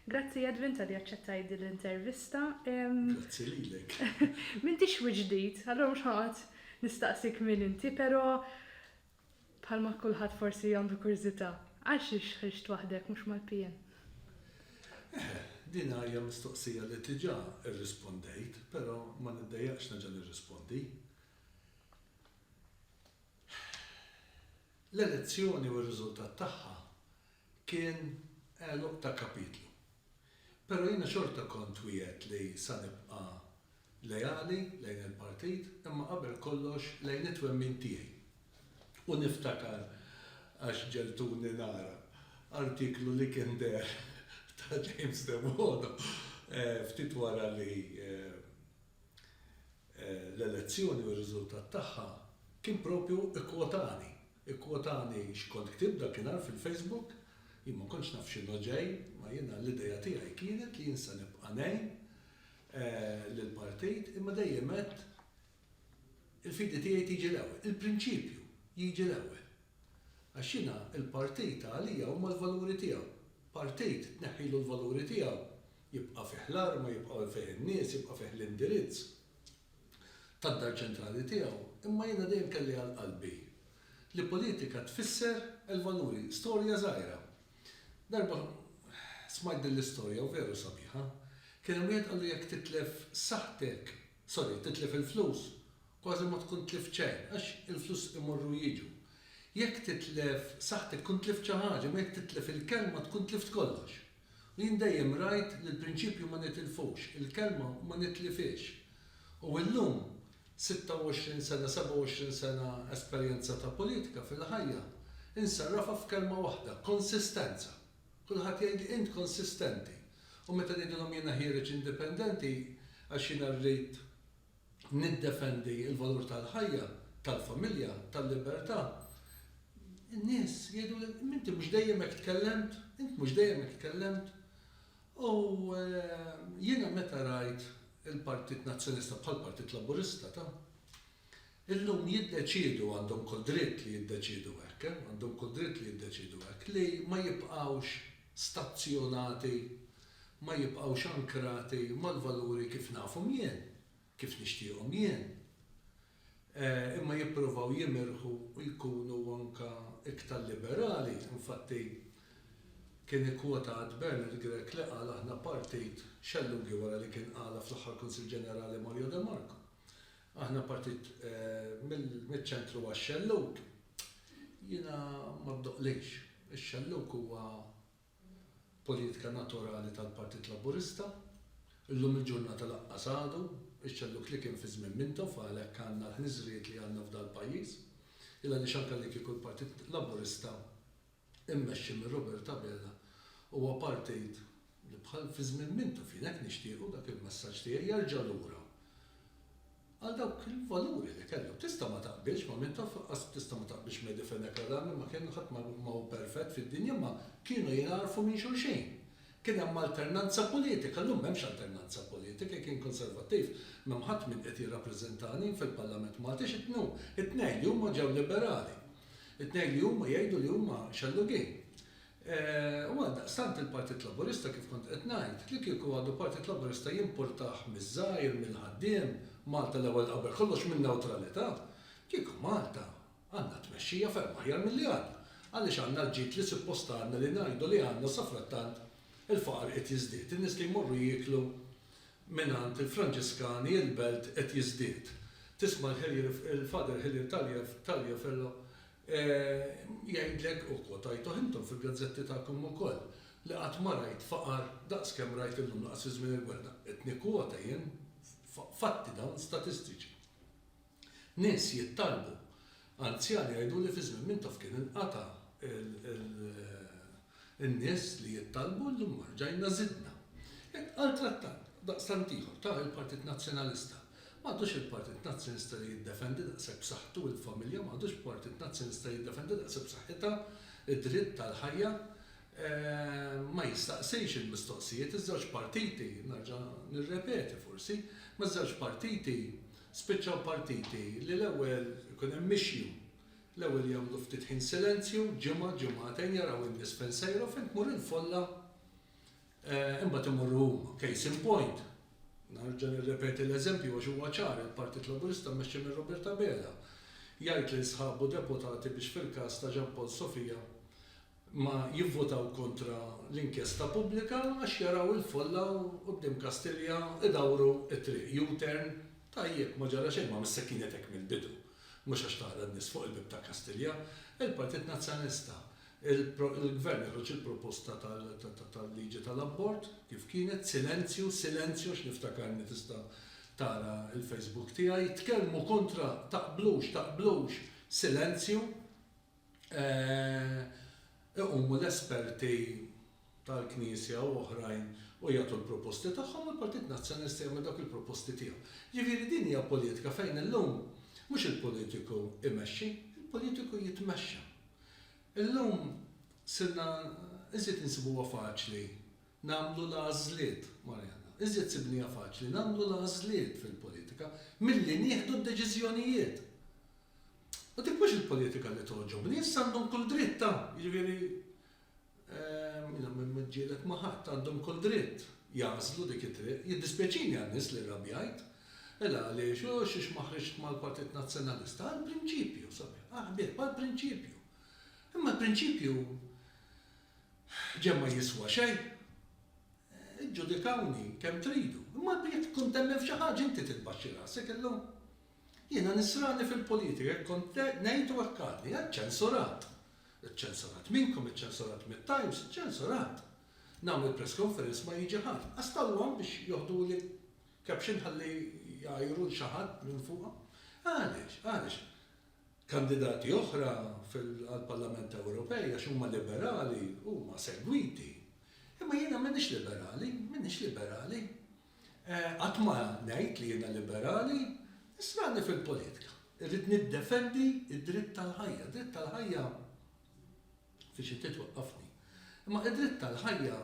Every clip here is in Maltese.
Grazzi Edwin talli aċċettajt din l-intervista. Grazzi lilek. M'intix wiċċ ġdid, allura mhux ħanqgħod nistaqsik min inti, però bħalma kulħadd forsi għandu kurżità, għal xiex ħriġt waħdek mhux mal-PN? Eħe, din hija mistoqsija li diġà rrispondejt, però ma niddejjaqx nerġa' nirrispondi. L-elezzjoni u r-riżultat tagħha Kien għeluq ta' kapitlu. Però jiena xorta kont wiegħedt li sa nibqa' leali lejn il-partit imma qabel kollox lejn it-twemmin tiegħi. U niftakar, għax ġegħltuni nara, artiklu li kien deher ta' James Debono ftit wara li l-elezzjoni u r-riżultat tagħha kien propju ikkwotani. Ikkwotani x'kont ktibt dakinhar fil-Facebook. Jien ma kontx naf x'inhu ġej, ma jiena l-idea tiegħi kienet li jien se nibqa' ngħin lill-partit imma dejjem għedt il-fidi tiegħi tiġi l-ewwel, il-prinċipju jiġi l-ewwel. Għax jiena l-partit għalija huma l-valuri tiegħu. Partit tneħħilu l-valuri tiegħu Jibqa' fih l-arma, jibqgħu fih in-nies, jibqa' fih l-indirizz tad-dar ċentrali tiegħu, imma jiena dejjem kelli għal qalbi li politika tfisser il-valuri. Storja żgħira. Darba smajt din l-istorja u veru sabiħa. Kien hemm wieħed qallu jekk titlef saħħtek, sorry, titlef il-flus, kważi ma tkun tlift xejn, għax il-flus imorru u jiġu. Jekk titlef saħħtek tkun tlift xi ħaġa, imma jekk titlef il-kelma tkun tlift kollox. U jien dejjem rajt li l-prinċipju ma nitilfux, il-kelma ma nitlifhiex. U illum, 26 sena, 27 sena esperjenza ta' politika fil-ħajja, insarrafha f'kelma waħda, konsistenza. Kulħadd jgħidli int konsistenti. U meta ngħidilhom jiena ħiereġ indipendenti għax jiena rrid niddefendi l-valur tal-ħajja, tal-familja, tal-libertà, in-nies jgħiduli, m'inti mhux dejjem hekk tkellemt, int mhux dejjem hekk tkellemt. U jiena meta rajt il-Partit Nazzjonista bħall-Partit Laburista ta'. Illum jiddeċiedu, għandhom kull dritt li jiddeċiedu hekk, għandhom kull dritt li jiddeċiedu hekk, li ma jibqgħux stazzjonati, ma jibqgħux ankrati mal-valuri kif nafhom jien, kif nixtieqhom jien, imma jippruvaw jimirħu u jkunu anke iktar liberali. Infatti, kien ikkwotat Bernard Grech li qal aħna partit xellughi wara li kien qalha fl-aħħar Kunsill Ġenerali Mario de Marco. Aħna partit mill-ċentru għax-xellug. Jiena ma ddoqlix. Ix-xellug huwa poliitka naturali tal-Partit Laburista. Illum il-ġurnata lanqas għadu ix-xellug li kien fi żmien Mintoff għalhekk għandna l-ħniżrijiet li għandna f'dal-pajjiż. Il-għaliex anke li kieku l-Partit Laburista immexxi minn Robert Abela, huwa partit li bħal fi żmien mintu fien hekk nixtiequ dak il-messaġġ tiegħi jerġa' lura għal dawk il-valuri li kellu. Tista' ma taqbilx ma' min taf laqqas tista' ma taqbilx Mehdi Fenech Adami ma kien ħadd ma hu perfett fid-dinja imma kienu jingħarfu minn xulxin. Kien hemm alternanza politika, llum m'hemmx alternanza politika, jekk jien Konservattiv m'hemm ħadd min qed jirrappreżentani fil-Parlament Malti x'qed ngħum? It-tnejn li huma ġew Liberali. It-tnejn li huma jgħidu li huma xellugin. U għaldaqstant il-Partit Laburista kif kont qed ngħid, li kieku għadu Partit Laburista jimpurtah miż-żgħir, mill-ħaddiem, Malta l-ewwel qabel kollox min-newtralità. Kieku Malta għandna tmexxija ferm aħjar milli għandna. Għaliex għandna l-ġid li suppost għandna li ngħidu li għandna safrattant il-faqar qiegħed jiżdied, in-nies li jmorru jieklu Mingħand il-Franġiskani il-belt qed jiżdied. Tisma' l-Hillier il-Father Hillier Taliaferro jgħidlek, u kwotajtuh intom fil-gazzetti tagħkom ukoll, li qatt ma rajt faqar daqs kemm rajt illum lanqas fi żmien il-gwerra. Qed nikkwota jien fatti dawn statistiċi. Nies jittalbu. Anzjani jgħidu li fi żmien Mintoff kien inqata' n-nies li jittalbu u llum rġajna żidna. Intqal trattat daqstant ieħor ta' il-Partit Nazzjonalista. M'għadux il-Partit Nazzjonista li jiddefendi daqshekk b'saħħtu il-familja, m'għadux Partit Nazzjonista li jiddefendi daqshekk b'saħħitha d-dritt tal-ħajja. Ma jistaqsix il-mistoqsijiet. Iż-żewġ partiti, nerġa' nirrepeti forsi, ma' żewġ partiti Spiċċaw partiti li l-ewwel ikun hemm mixju. L-ewwel jagħmlu ftit ħin silenzju, ġimgħa, ġimgħatejn, jaraw in-nies fejn sejra u fejn tmur il-folla imbagħad imorru huma. Case in point, nerġa' nirrepeti l-eżempju għax huwa ċar, il-Partit Laburista mmexxi minn Robert Abela jgħid lil sħabu deputati biex fil-każ ta' Jean Paul Sofia ma jivvutaw kontra l-inkjesta pubblika għax jaraw il-folla u quddiem Kastilja idawru t-triq, U-turn, tajjeb ma ġara xejn, ma missek kienet hekk mill-bidu, mhux għax taqra n-nies fuq il-bieb ta' Kastilja, il-Partit Nazzjonalista, il-Gvern joħroġ il-proposta tal-liġi tal-abort kif kienet, silenzju, silenzju għax niftakarni tista' tara l-Facebook tiegħi, tkellmu kontra, taqblux, taqblux, silenzju. iqumu l-esperti tal-Knisja u oħrajn u jagħtu l-proposti tagħhom u l-Partit Nazzjonalista jagħmel dawk il-proposti tiegħu. Jiġifieri din hija politika fejn illum mhux il-politiku jmexxi, il-politiku jitmexxa. Illum sirna iżjed insibuha faċli nagħmlu l-għażliet, Marianna, iżjed sibniha faċli nagħmlu l-għażliet fil-politika milli nieħdu d-deċiżjonijiet. U dik mhux il-politika li togħġobni, issa għandhom kull dritt ta', jiġifieri, jiena ma niġġieled ma' ħadd, għandhom kull dritt jagħżlu dik it-triq. Jiddispjaċini għan-nies li rrabjajt. Mela għaliex, u xiex ma ħriġt mal-Partit Nazzjonalista? Għall-prinċipju, sabiħ, ah ħbieb, għall-prinċipju. Imma l-prinċipju ġenn ma jiswa xejn. Iġġudikawni kemm tridu, imma jekk tkun temmen f'xi ħaġa inti titbaxxi rasek illum. Jiena nisrani fil-politika, hekk kont ngħid u hekk għadni. Hemm ċensurat. Iċċensurat minnkom, iċċensurat mit-Times, iċċensurat. Nagħmel press conference ma jiġi ħadd. Qas tal-one biex joħduli caption ħalli jgħajru 'l xi ħadd minn fuqha. Għaliex? Għaliex? Kandidati oħra għall-Parlament Ewropej għax huma liberali huma segwiti. Imma jiena m'iniex liberali, m'iniex liberali. Qatt ma ngħid li jiena liberali, issa għadni fil-politika. Irrid niddefendi d-dritt tal-ħajja. Dritt tal-ħajja fi xi ftit waqqafni. Imma id-dritt tal-ħajja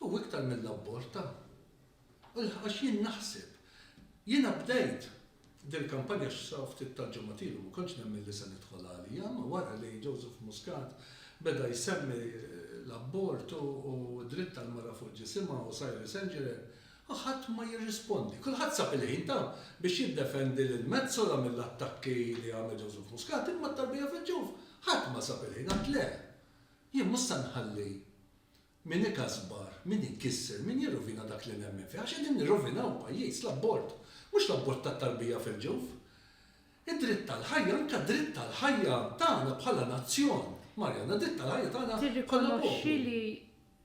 hu iktar mill-abborta. Għax jien naħseb, jiena bdejt Dil-kampanja x'sa ftit tal-ġimgħat ilu ma kontx nemmen li se nidħol għaliha, ma wara li Joseph Muscat beda jsemmi l-abort u d-dritt tal-mara fuq ġisimha u Cyril St Geran, ħadd ma jirrispondi. Kulħadd sab il-ħin ta' biex jiddefendi lil Metsola mill-attakki li għamel Joseph Muscat imma tarbija fil-ġuf ħadd ma sab il-ħin, għad le, jien mhux se nħalli Min ikasbar, min ikisser, min jirrovina dak li nemmen fih, għax qegħdin nirrovinaw il-pajjiż, l-abort, mhux l-abort tat-tarbija fil-ġuf. Id-dritt għall-ħajja, anke dritt għall-ħajja tagħna bħala nazzjon, Marianna, dritt għall-ħajja tagħna bħala poplu. Tirrikonoxxi li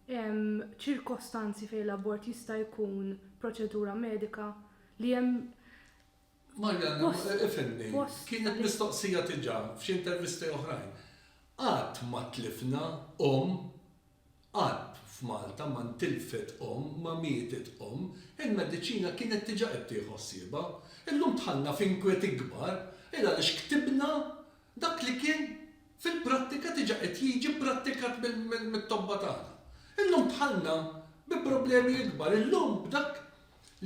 hemm ċirkostanzi fejn l-abort jista' jkun proċedura medika, li hemm Marianna, ifhimni, kienet mistoqsija diġà f'xi intervisti oħrajn. Qatt ma tlifna omm, qatt f'Malta ma ntilfet omm, ma mietet omm. Il-mediċina kienet diġà qed tieħu ħsiebha. Illum dħalna f'inkwiet ikbar il għaliex ktibna dak li kien fil-prattika diġà qed jiġi pprattikat mit-tobba tagħna. Illum dħalna bi problemi ikbar. Illum b'dak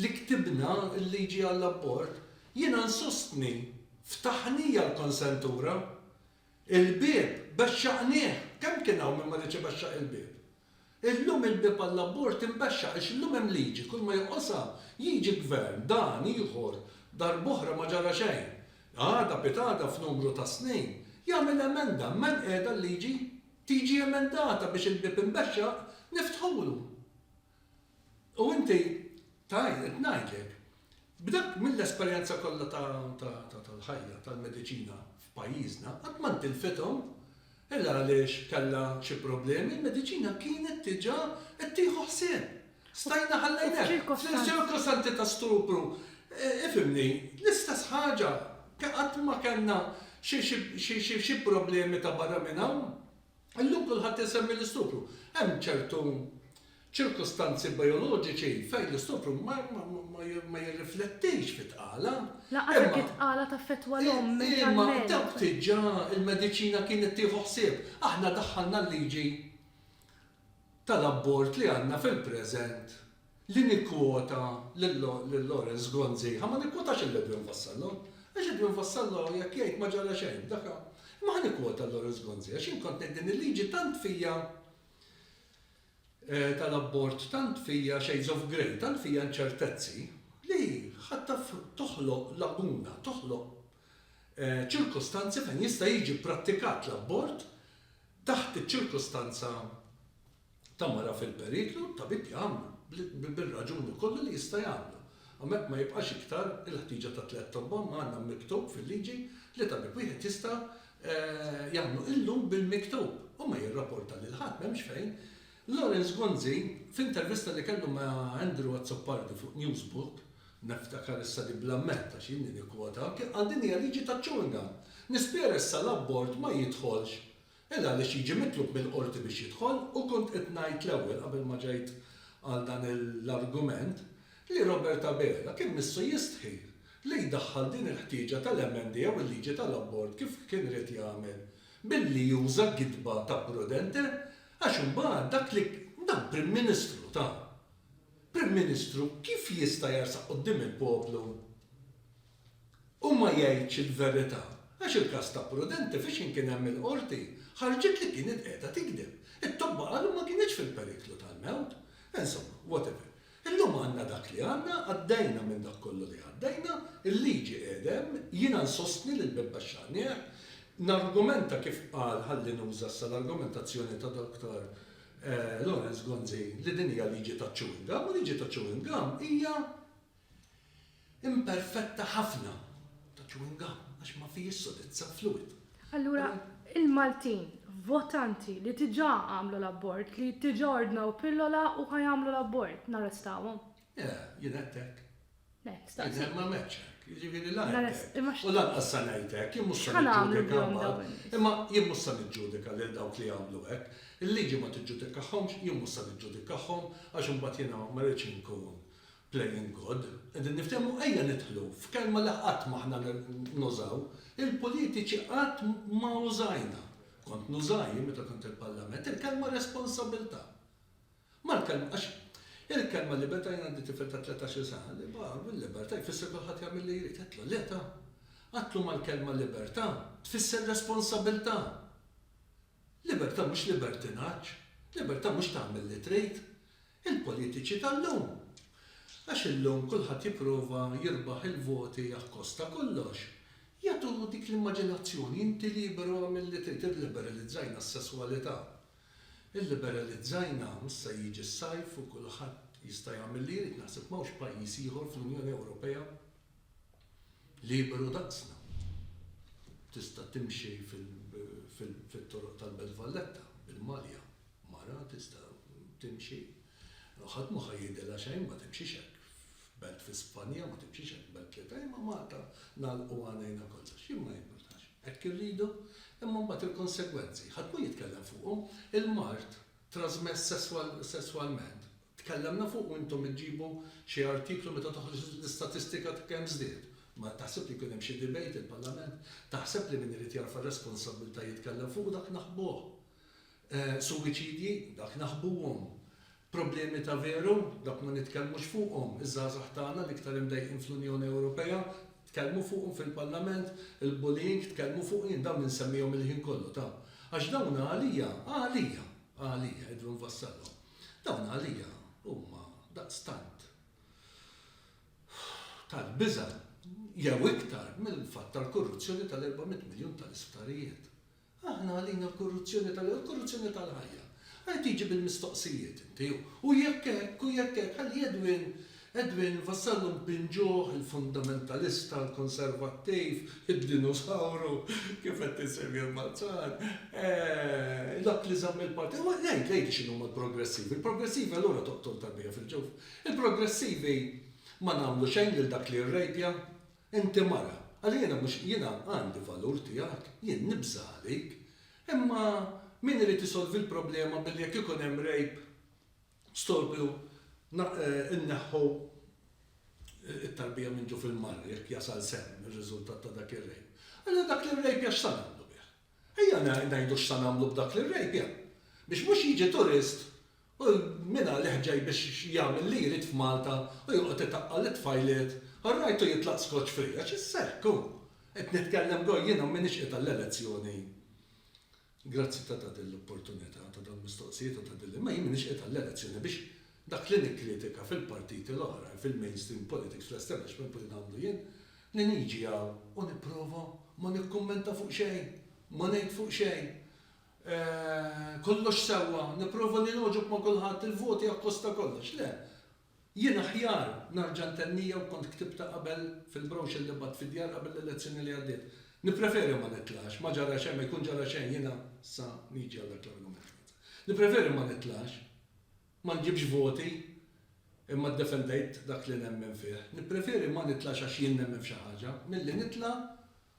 li ktibna l-liġi għall-abort, jiena nsostni ftaħnija l-konsentura. Il-bieb bexxaqnieh! Kemm kien hawn min ma riedx ibexxaq il-bieb? Illum il-bieb għall-abort inbexxaq għax illum hemm liġi, kulma joqosha jiġi gvern, dan, ieħor, darb'oħra ma ġara xejn, għada, pitgħada, f'numru ta' snin, jagħmel emenda, imma hemm qiegħda l-liġi, tiġi emendata biex il-bieb imbexxaq, niftħulu. U inti tgħid, qed ngħidlek, b'dak mill-esperjenza kollha tal-ħajja, tal-mediċina f'pajjiżna, qatt ma ntilfithom. Il għaliex kellha xi problemi, il-mediċina kienet diġà qed tieħu ħsieb. Stajna ħallejna. F'ċirkostanzi ta' stupru, ifhimni, l-istess ħaġa, qatt ma kellna xi problemi ta' barra minn hawn. Illum kulħadd isemmi l-istupru. Hemm ċertu ċirkustanzi bijoloġiċi fejn l-istupru ma jirriflettix fit-tqala. Lanqas jekk it-tqala taffettwa l-omm mentalment. Imma dawk diġà il-mediċina kienet tieħu ħsieb. Aħna daħħalna l-liġi tal-abort li għandna fil-preżent Li nikkwota lil Lawrence Gonzi, imma ma nikkwotax lil Edwin Vassallo, għax Edwin Vassallo jekk jgħid ma ġara xejn, dak hu. Imma ħa nikkwota lil Lawrence Gonzi għax jien kont ngħid din il-liġi tant fija tal-abort tant fija shades of grey, tant fija inċertezzi li ħa taf toħloq laguna, toħloq ċirkustanzi fejn jista' jiġi pprattikat l-abort taħt iċ-ċirkustanza ta' mara fil-periklu, t-tabib jagħmlu, bir-raġuni kollha li jista' jagħmlu. Hemmhekk ma jibqax iktar il-ħtieġa ta' tliet tobba imma għandna miktub fil-liġi li tabib wieħed jista' jagħmlu illum bil-miktub u ma jirraporta lil ħadd, m'hemmx fejn. Lawrence Gonzi, f'intervista li kellu ma' Andrew Azzopardi fuq Newsbook, niftakar issa li bla medd għax jien li nikkwota, kien qal din hija liġi taċ-chewing gum. Nispjera issa l-abort ma jidħolx Illa għaliex jiġi mitlub mill-Qorti biex jidħol u kont qed ngħid l-ewwel qabel ma ġejt għal dan l-argument li Robert Abela kien missu jistħi li jdaħħal din il-ħtieġa tal-emendi jew il-liġi tal-abort kif kien ried jagħmel billi juża gidba ta' prudente għax imbagħad dak li dan Prim Ministru ta' Prim Ministru kif jista' jarsaq quddiem il-poplu u ma jgħidx il-verità, għax il-każ ta' Prudenti fiex inkien hemm il-Qorti, ħarġet li kienet qiegħda tigdeb. It-tobba qalu ma kinitx fil-periklu tal-mewt. Insomma, whatever. Illum għandna dak li għandna, għaddejna minn dak kollu li għaddejna, il-liġi qiegħda hemm, jiena nsostni li l-Bib Baxxar nieħ, nargumenta kif qal, ħalli nuża issa l-argumentazzjoni ta' Dr. Lawrence Gonzi, li din hija liġi taċ-chewing gum, u liġi taċ-chewing gum hija Imperfetta ħafna ta' chewing gum għax ma fihiex sodizza u fluwid. Allura, il-Maltin, votanti li diġà għamlu l-abort, li diġà ordnaw pillola u ħa jagħmlu l-abort, narrestawhom? Le, jien għedt hekk. Le, staqsi. Jien ma għmiltx hekk. Jiġifieri la għedt hekk u lanqas se ngħid hekk. Jien mhux se niġġudika mbagħad. Imma jien mhux se niġġudika lil dawk li għamlu hekk. Il-liġi ma tiġġudikahomx, jien mhux se niġġudikahom għax imbagħad jiena ma rridx inkun Playing God, qegħdin niftehmu ejja nidħlu f'kelma li qatt m'aħna nużaw, il-politiċi qatt ma użajna, kont nuża jien meta kont il-Parlament, il-kelma responsabilità. Mal-kelma, għax il-kelma libertà jien għandi tifel ta' tletax-il sena li baqa' bil-libertà jfisser kulħadd jagħmel li jrid, għedtlu le ta! Għedtlu mal-kelma libertà tfisser responsabilità. Libertà mhux libertinaġġ, libertà mhux tagħmel li trid. Il-politiċi tal-lum. Għax illum kulħadd jipprova jirbaħ il-voti akkost ta' kollox, jagħtu dik l-immaġinazzjoni, inti liberu agħmel li trid, illiberalizzajna s-sesswalità. Illiberalizzajna, issa jiġi s-sajf u kulħadd jista' jagħmel li jrid, naħseb m'hawnx pajjiż ieħor fl-Unjoni Ewropea, liberu daqsna. Tista' timxi fit-toroq tal-Belt Valletta bil-malja, mara tista' timxi, ħadd mhu ħa jgħidilha xejn, ma timxix hekk f'belt fi Spanja, ma timxix hekk f'belt li ta' imma Malta nagħlqu għajnejna kollox. Jien ma jimpurtax. Hekk irridu, imma mbagħad il-konsegwenzi, ħadd mhu jitkellem fuqhom, il-mard trażmess sesswalment, Tkellemna fuq u intom iġġibu xi artiklu meta toħroġ l-istatistika ta' kemm żdied. Ma taħseb li jkun hemm xi debate il-Parlament? Taħseb li min irid jerfa' r-responsabbiltà jitkellem fuq dak naħbuh? Suwiċidji? Dak naħbuhom. Problemi ta' veru? Dak ma nitkellmux fuqhom. Iż-żgħażagħ tagħna l-iktar imdejqin fl-Unjoni Ewropea? Tkellmu fuqhom fil-Parlament? Il-bullying? Tkellmu fuq jien dawn insemmihom il-ħin kollu ta' għax dawn għalija, għalija, għalija jidhru nfassalhom. Dawn għalija huma daqstant tal-biża' jew iktar mill-fatt tal-korruzzjoni tal-erba' mitt miljun tal-isptarijiet. Aħna għalina l-korruzzjoni tal-ewwel il-korruzzjoni tal-ħajja. Għajr tiġi bil-mistoqsijiet inti u jekk hekk u jekk hekk ħalli Edwin Edwin Vassallo mpinġuh il-fundamentalista, il-konservattiv, id-dinusawru, kif qed insemmi l-Malzan, dak li żamm il-parti. Imma ngħid, ngħid x'inhuma l-progressivi. Il-progressivi allura toqtol tarbija fil-ġuf. Il-progressivi ma nagħmlu xejn lil dak li rrejpja. Inti mara. Alla jiena mhux, jiena għandi valur tiegħek, jien nibża' għalik. Imma min irid isolvi l-problema billi jekk ikun hemm rape, Storbju, Inneħħu t-tarbija minn ġuf il-mara jekk jasal sehem ir-riżultat ta' dak ir-rejp. Allura dak l-irrejpja x'sa nagħmlu bih? Ejja ngħidu x'sa nagħmlu b'dak l-irrejpja. Biex mhux jiġi turist u mingħalih ġej biex jagħmel li jrid f'Malta u joqgħod itaqqa' lit-tfajliet, all right u jitlaq skoċċ free, għax issa hekk hu. Qed nitkellem go jiena m'iniex qiegħda l-elezzjoni. Grazzi ta' ta' din l-opportunità ta' dawn mistoqsijiet u ta' din l-imma jien m'iniex qiegħed għall-elezzjoni biex dak li nikkritika fil-partiti l-oħrajn fil-mainstream politics fl-establishment u li nagħmlu jien li niġi hawn u nipprova ma nikkummenta fuq xejn ma ngħid fuq xejn kollox sewwa nipprova li nogħġob ma' kulħadd il-voti akkosta kollox le Jien aħjar narġa' ntennija u kont ktibtha qabel fil-brochure li bgħatt fid-djar qabel l-elezzjoni li għaddiet. Nippreferi ma nitlax, ma ġara xejn, ma jkun ġara xejn, jiena sa niġi għal dak l-argument Franza. Nippreferi ma nitlax, ma nġibx voti imma ddefendejt dak li nemmen fih. Nippreferi ma nitlax għax jien nemmen f'xi ħaġa, milli nitla'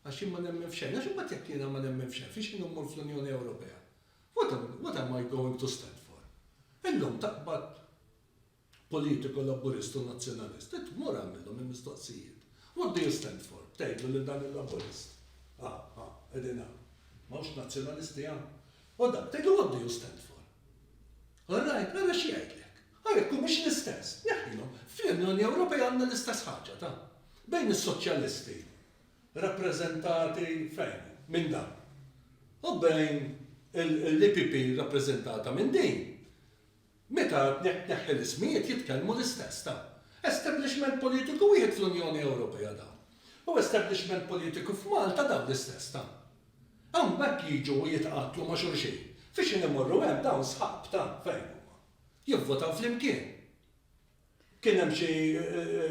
għax jien ma nemmen f'xejn. Għax imbagħad jekk jiena ma nemmen f'xejn, fiex inhu mmur fl-Unjoni Ewropea? What am, what am I going to stand for? Illum taqbad politiku Laburist u Nazzjonalist, int mur agħmilhom il-mistoqsijiet. What do you stand for? B'tgħidlu lil dan il-Laburist. Ha, ha, qegħdin hawn. M'hawnx Nazzjonalisti hawn? U dak tgħidlu what do you stand for? All right, ara x'jgħidlek. Ha jekk humiex l-istess, neħħilhom. Fl-Unjoni Ewropea għandna l-istess ħaġa, ta? Bejn is-soċjalisti, rappreżentati fejn hu? Minn dan. U bejn l-EPP rappreżentata minn din. Meta tneħħi l-ismijiet jitkellmu l-istess ta' establishment politiku wieħed fl-Unjoni Ewropea dawn u establishment politiku f'Malta dawn l-istess ta' hawnbhekk jiġu u jitqattlu ma' xulxin f'ixin imorru hemm dawn sħab ta' fejn huma jivvotaw flimkien. Kien hemm xi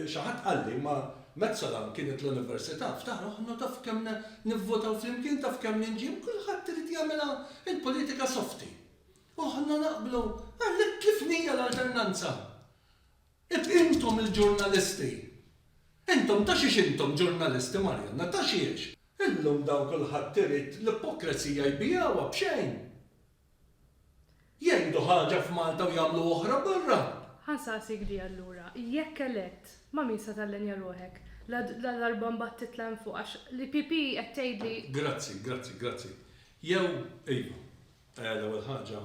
xi ħadd qalli, imma Metsolam kienet l-università, ftaħar aħna taf kemm nivvotaw flimkien, taf kemm ninġiemu, kulħadd irid jagħmilha l-politika softi. U aħna naqblu, għalhekk kif nija l-alternanza? Intom il-ġurnalisti, intom ta' xiex intom ġurnalisti Marianna, ta' xiex? Illum dawn kulħadd irid l-ipokrezija jbigħuha b'xejn. Jgħidu ħaġa f'Malta u jagħmlu oħra barra! Ħa nsaqsik di allura, jekk elett, ma' min se tallenja ruħek? Ladarba mbagħad titla' hemm fuq għax l-EPP qed tgħid li. Grazzi, grazzi, grazzi. Jew, ejja, l-ewwel ħaġa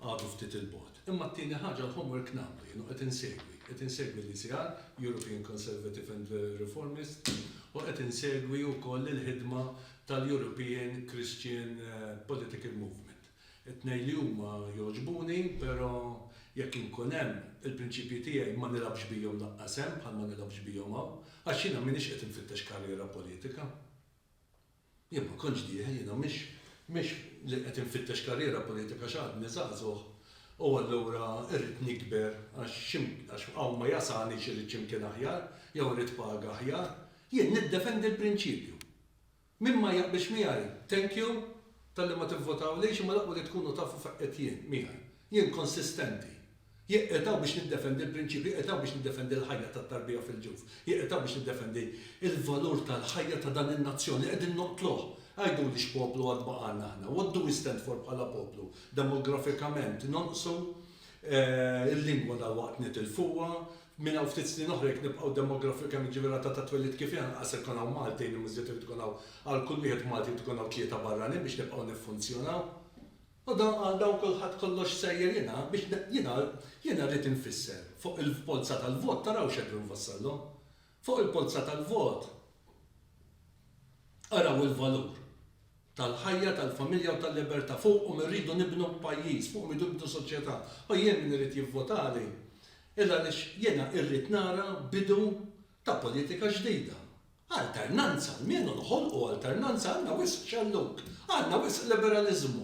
għadu ftit 'il bogħod. Imma t-tieni ħaġa l-homework nagħmlu jien u qed insegwi. Qed insegwi l-ECR, European Conservative and Reformist, u qed insegwi wkoll il-ħidma tal-European Christian Political Movement. It-tnejn li huma jogħġbuni, però jekk inkun hemm, il-prinċipji tiegħi ma nilgħabx bihom lanqas hemm bħal ma nilgħabx bihom hawn, għax jiena m'iniex qed infittex karriera politika. Jien ma kontx dieħel, jiena mhix mhix li qed infittex karriera politika għax għadni żagħżugħ u allura rrid nikber għax għax hawn ma jasalnix irrid x'imkien aħjar jew irrid paga aħjar. Jien niddefendi l-prinċipju Min ma jaqbilx miegħi, thank you talli ma tivvotawlix imma l-aqwa li tkunu tafu fejn qed jien, miegħi. Jien konsistenti. Jekk qed hawn biex niddefendi l-prinċipji, qed hawn biex niddefendi l-ħajja tat-tarbija fil-ġuf. Jekk qed hawn biex niddefendi l-valur tal-ħajja ta' dan in-nazzjon li qegħdin noqtluh. Għiduli x'poplu għad baqgħalna aħna? What do we stand for bħala poplu? Demografikament nonqsu, il-lingwa dalwaqt nitilfuha, Minn hawn ftit snin oħra jekk nibqgħu demografikament, jiġifieri r-rata ta' twelid kif hi, anqas se jkun hawn Maltin, imma iżjed irid ikun hawn, għal kull wieħed Malti jrid ikun hawn tlieta barranin biex nibqgħu niffunzjonaw. U dan għal dawn kulħadd kollox sejjer jiena biex jiena jiena rrid infisser fuq il-polza tal-vot taraw x'qed inwassallhom. Fuq il-polza tal-vot araw il-valur. tal-ħajja, tal-familja u tal-libertà. Fuqhom irridu nibnu pajjiż, fuqhom irridu nibnu soċjetà. U jien min irid jivvotali hi għaliex jiena irrid nara bidu ta' politika ġdida. Alternanza, almenu noħolqu alternanza, għandna wisq xellug, għandna wisq liberaliżmu.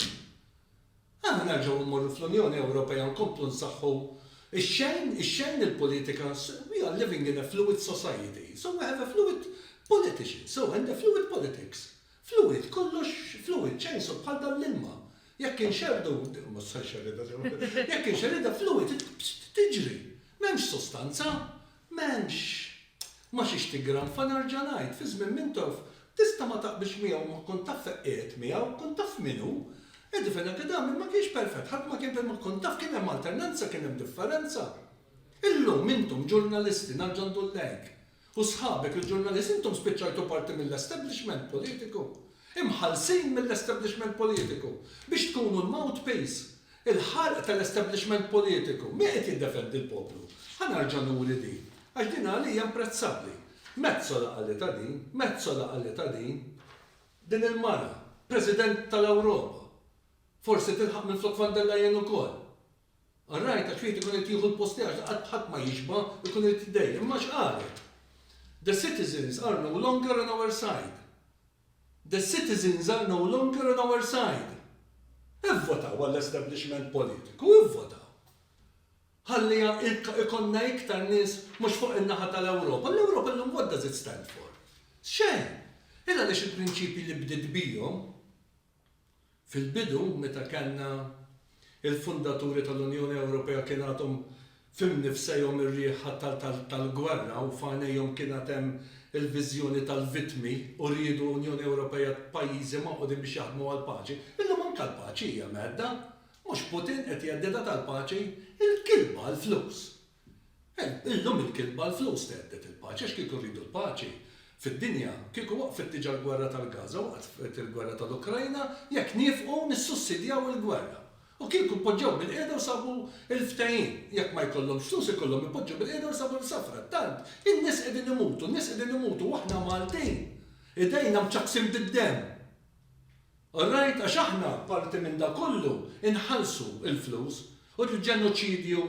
Aħna nerġgħu mmorru fl-Unjoni Ewropea nkomplu nsaħħu x-xejn, ix-xejn il-politika, we are living in a fluid society, so we have a fluid politician, so and a fluid politics. Fluid, kollox fluid, chainsaw bħal dan l-ilma. Jekk inxerrdu, ma tista' nxerridha sew, jekk inxerridha fluid tiġri. M'hemmx sostanza, m'hemmx ma xiex tiggranfa nerġa' ngħid, fi żmien Mintoff tista' ma taqbilx miegħu ma kont taf fejn qiegħed miegħu, kont taf min hu. Eddie Fenechedami ma kienx perfett, ħadd ma kien ma kont taf kien hemm alternanza, kien hemm differenza. Illum intom ġurnalisti, nerġa' ndur lejk, U sħabek il-ġurnalisti intom spiċċajtu parti mill-establishment politiku. Imħallsin mill-establishment politiku biex tkunu l-mouthpiece. Il-ħarq tal-establishment politiku. Min qed jiddefendi l-poplu? Ħa nerġa' nuri din. Għax din għalija imprezzabbli. Metsola qalitha din. Metsola qalitha din. Din il-mara. President tal-Ewropa. Forsi tilħaq minflok Van der Leyen ukoll. Ar-ragħaj ta' ċwid ikun irid jieħu l-post tiegħek li qatt ħadd ma jixba', ikun irid jitdejjaq. Imma x'qalet? The citizens are no longer on our side. The citizens are no longer on our side. Ivvotaw għall-establishment politiku, ivvotaw. Ħalli ikollna iktar nies mhux fuq in-naħa tal-Ewropa. L-Ewropa llum what does it stand for? Xejn. Hi għaliex il-prinċipji li bdiet bihom, Fil-bidu, meta kellna l-fundaturi tal-Unjoni Ewropea kien għadhom f'imnifsejhom ir-riħ tal-gwerra u f'għajnejhom kien għad hemm il-viżjoni tal-vittmi u riedu Unjoni Ewropea ta' pajjiżi magħqudin biex jaħdmu għall-paċi. Illum anke l-paċi hija mhedda. Mhux Putin qed jheddidha tal-paċi. Il-kilba, il-flus. Illum il-kitba l-flus thedded il-paċi għax kieku rridu l-paċi fid-dinja kieku waqfet diġa l-gwerra tal-Gaza, waqfet il-gwerra tal-Ukrajna jekk niefqu nissussidjaw il-gwerra. U kieku poġġew bilqiegħda u sabu l-ftehim. Jekk ma jkollhomx flus ikollhom ipoġġu bilqiegħda u jsabu l-sa frattant in-nies qegħdin imutu, n-nies qegħdin imutu u aħna Maltin idejna mċappsin bid-demm. Alright għax aħna parti minn dak kollu inħallsu l-flus u l-ġenoċidju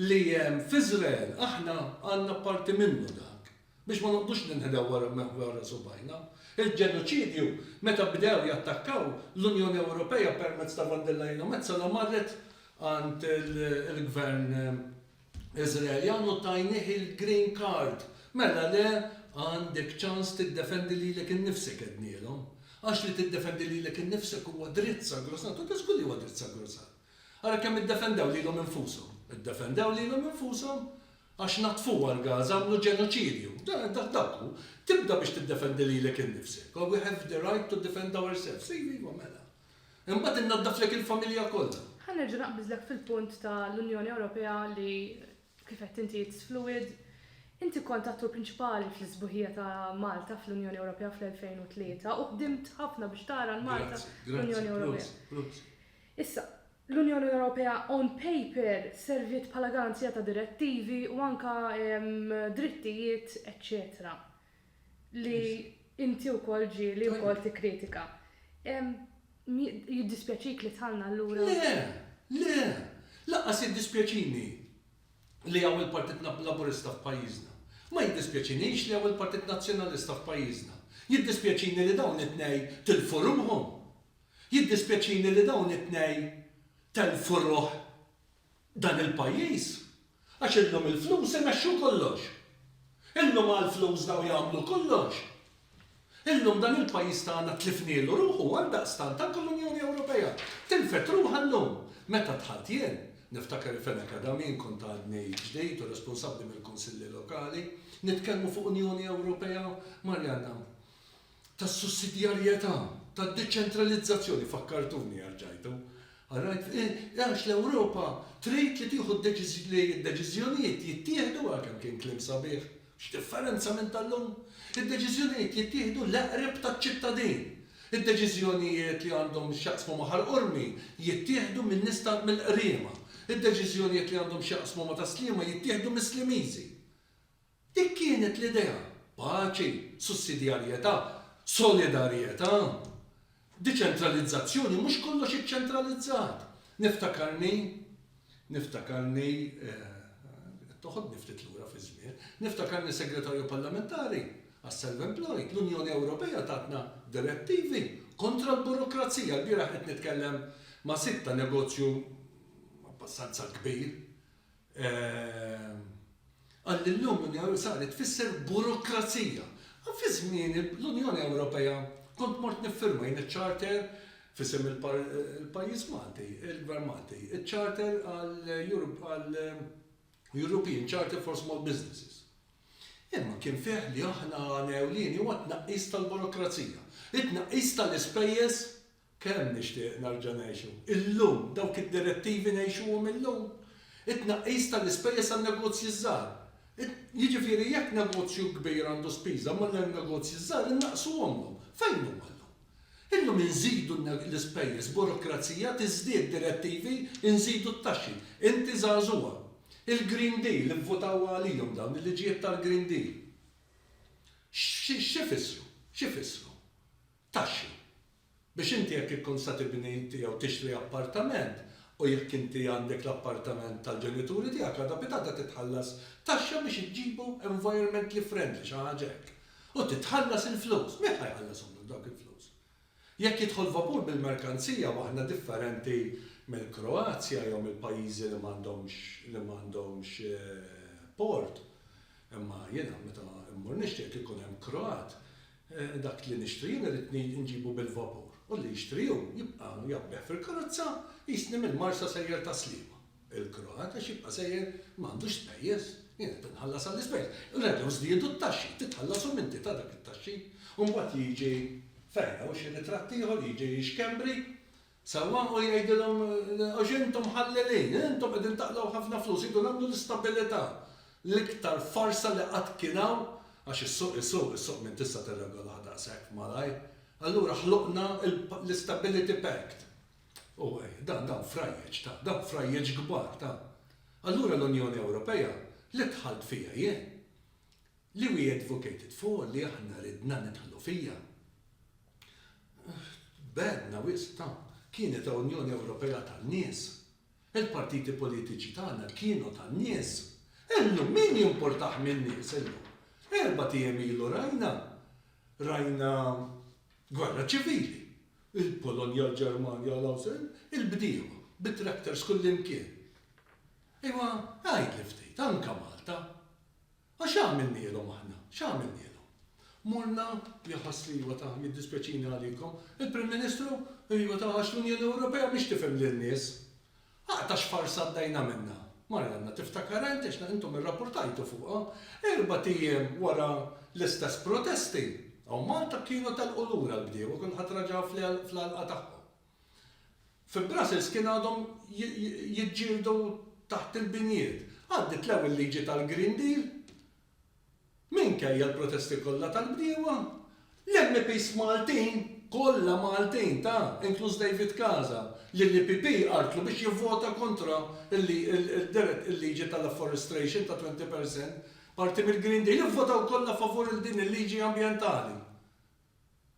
li hemm f'Iżrael aħna għandna parti minnu dak biex ma noqgħdux ninħdew wara subgħajna. Il-ġenoċidju meta bdew jattakkaw l-Unjoni Ewropea permezz ta' von der Leyen u Metsola marret għand il-gvern Iżraeljan u tajnih il-green card, mela le għandek ċans tiddefendi lilek innifsek għednielhom. Għax li tiddefendi lilek innifsek huwa dritt sagrosant, u ta' żgur li huwa dritt sagrosant. Ara kemm iddefendew lilhom infushom. Iddefendew lilhom infushom għax naddfuha l-Gaza, għamlu ġenoċidju. Dak hu. Tibda biex tiddefendi lilek innifsek. We have the right to defend ourselves. Iva, iva, mela. Imbagħad innaddaflek il-familja kollha. Ħa nerġa' naqbiżlek fil-punt ta' l-Unjoni Ewropea li kif għedt inti it's fluid. Inti kont attur prinċipali fl-isbuħija ta' Malta fl-Unjoni Ewropea fl-2003 u ħdimt ħafna biex tara l-Malta fl-Unjoni Ewropea. Issa, l-Unjoni Ewropea on paper serviet bħala garanzija ta' direttivi u anke drittijiet eċċetera. li inti wkoll ġieli wkoll tikkritika. Jiddispjaċik li dħalna allura? Le, le! Lanqas jiddispjaċini li hawn il-Partit Laburista f'pajjiżna. Ma jiddispjaċinix li hawn il-Partit Nazzjonalista f'pajjiżna. Jiddispjaċini li dawn it-tnejn tilfu ruħhom. Jiddispjaċini li dawn it-tnejn telfu ruħ. Dan il-pajjiż għax illum il-flus imexxu kollox. Illum għall-flus dawn jagħmlu kollox. Illum dan il-pajjiż tagħna tlifnielu ruħu għaldaqstant anke l-Unjoni Ewropea tilfet ruħha llum. Meta dħalt jien, niftakar il-Fen Academy jien kont għadni ġdid u responsabbli mill-Kunsilli Lokali, nitkellmu fuq Unjoni Ewropea, Marjanna, tas-sussidjarjetà, tad-deċentralizzazzjoni, fakkartuni għax ġajtu. All right, għax l-Ewropa trid li tieħu li d-deċiżjonijiet jittieħdu, ah kemm kien kliem sabiħ, x'differenza minn tal-lum? Id-deċiżjonijiet jittieħdu l-eqreb taċ-ċittadin. Id-deċiżjonijiet li għandhom x'jaqsmu ma' Ħal Qormi jittieħdu minn nies ta' mill-Qriema. Id-deċiżjonijiet li għandhom x'jaqsmu ma' Tas-Sliema jittieħdu mis-Slimiżi. Dik kienet l-idea, paċi, sussidjarjetà, solidarjetà, deċentralizzazzjoni, mhux kollox iċċentralizzat. Niftakarni, niftakarni, qed toħodni ftit lura fiż-żmien, niftakarni Segretarju Parlamentari għas-Self-Employed, l-Unjoni Ewropea tatna direttivi kontra l-burokrazija. Lbieraħ qed nitkellem ma' sid ta' negozju abbastanza kbir Qal illum l-Unjoni Ewropea saret tfisser burokrazija. Fi żmieni l-Unjoni Ewropea kont mort niffirma jien iċ-charter f'isem il-pajjiż Malti, il-Gvern Malti, iċ-charter għal European Charter for Small Businesses. Imma kien fih li aħna għan ewlieni huwa t-tnaqqis tal-burokrazija, it-tnaqqis tal-ispejjeż Kemm nixtieq nerġa' ngħixu illum dawk id-direttivi ngħixuhom illum. It-tnaqqis tal-ispejjeż għan-negozji ż-żgħar. Jiġifieri jekk negozju kbir għandu spiża ma' negozji ż-żgħar innaqqsuhomlhom. Fejn huma llum? Illum inżidu l-ispejjeż, burokrazija tiżdied, direttivi, inżidu t-taxxi. Inti żagħżugħa. Il-Green Deal, ivvutaw għalihom dawn, il-liġijiet tal-Green Deal. X'ifissru? X'ifissru? Taxxi. Biex inti jekk ikkun se tibni inti jew tixtri appartament u jekk inti għandek l-appartament tal-ġenituri tiegħek għada bidgħada titħallas taxxa biex iġġibu environmentally friendly, xi ħaġa hekk. U titħallas il-flus. Min ħa jħallashom lok dawk il-flus? Jekk jidħol vapur bil-merkanzija u aħna differenti mill-Kroazja jew mill-pajjiżi li m'għandhomx li m'għandhomx port, imma jiena meta mmur nixtri jekk ikun hemm Kroat Dak li nixtri jien iridni nġibu bil-vapur, u li jixtri hu jibqa' jgħabbeh fil-karozza qisni mill-Marsa sejjer ta' Sliema. Il-Kroat għax jibqa' sejjer ma għandux spejjeż, jien qed inħallas għall-ispejjeż. Reġgħu żdiedu t-taxxi, titħallas u m'inti ta' dak it-taxxi. U mbagħad jiġi, fejn, hawn xi ritratt ieħor, jiġi xkembri, Sewwa, u jgħidilhom, Għax intom mħallelin, intom qegħdin taqlgħu ħafna flus, iridu nagħmlu l-istabilità, l-iktar farsa li qatt kien hawn, għax is-suq isuq, is-suq min tista' tirregolah daqshekk malajr, allura ħloqna l-istability pact. U dan, dawn frajjeġ, ta, dawn frajjeġ kbar, ta. Allura l-Unjoni Ewropea, li dħalt fiha jien, Li we advocated for, li aħna ridna nidħlu fiha. Tbegħedna wisq ta'. Kienet Unjoni Ewropea tan-nies. Il-partiti politiċi tagħna kienu tan-nies. Illum min jimpurtah min-nies illum? Erbat ijiem ilu rajna, rajna gwerra ċivili. Il-Polonja, l-Ġermanja, l-Awstrija, il-bdiewa bit-tractors kullimkien. Ejwa, għidli ftit, anke Malta. Għax x'għamilnielhom aħna? X'għamilnielhom? Mulna li jħoss li iva ta, jiddispjaċini għalikom, il-Prim Ministru, iva ta, għax l-Unjoni Ewropea mhix tifhem lin-nies. Aqgħa ta' xfarsa għaddejna minnha. Marianna, tiftakar int, għax intom irrapportajtu fuqha, erbat ijiem wara l-istess protesti, hawn Malta kienu telqu lura l-bdiewa, kulħadd raġa' fl-għalqa tagħhom. Fi Brussels kien għadhom jiġġieldu taħt il-binjiet. Għaddiet l-ewwel liġi tal-Green Deal. Minkejja l-protesti kollha tal-bdiewa, l-MEPs Maltin, kollha Maltin, ta, inkluż David Casa, li l-EPP għartlu biex jivvota kontra l-liġi tal-afforestration ta' 20 per cent, parti mill-Green Deal, ivvotaw kollha favur il-din il-liġi ambjentali.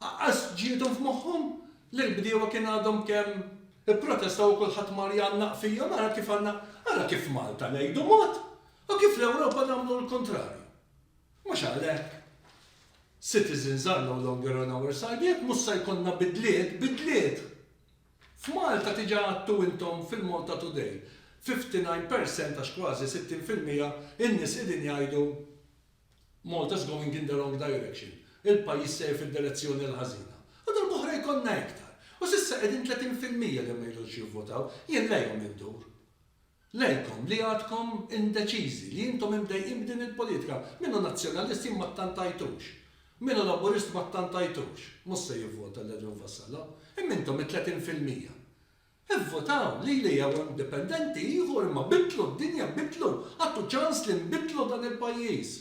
Aqqas ġiethom f'moħħhom li l-bdiewa kien għadhom kemm ipprotestaw u kulħadd mar jgħannaq fihom, ara kif għandna, ara kif f'Malta ngħidu mod u kif fl-Ewropa nagħmlu l-kuntrarju. Mhux għalhekk, citizens are no longer on our side, jekk mhux se jkollna bidliet, bidliet! F'Malta diġà għadtu intom fil-Malta Today, 59 percent għax kważi 60 fil-mija in-nies qegħdin jgħidu Malta's going in the wrong direction, il-pajjiż sejjer fid-direzzjoni l-ħażina. U darb'oħra jkollna iktar. U s'issa qegħdin 30 fil-mija li ma jridux jivvotaw. Jien lejhom indur. Lejkom li għadkom indeċiżi, li intom imdejqin b'din il-politika. Min hu Nazzjonalist jien ma ttantajtux. Min hu Laburist ma ttantajtux. Mhux se jivvota lil Edwin Vassallo. Imma intom it-30 fil-mija. Ivvotaw lili jew indipendenti ieħor imma biddlu d-dinja biddlu għadtu ċans li nbiddlu dan il-pajjiż.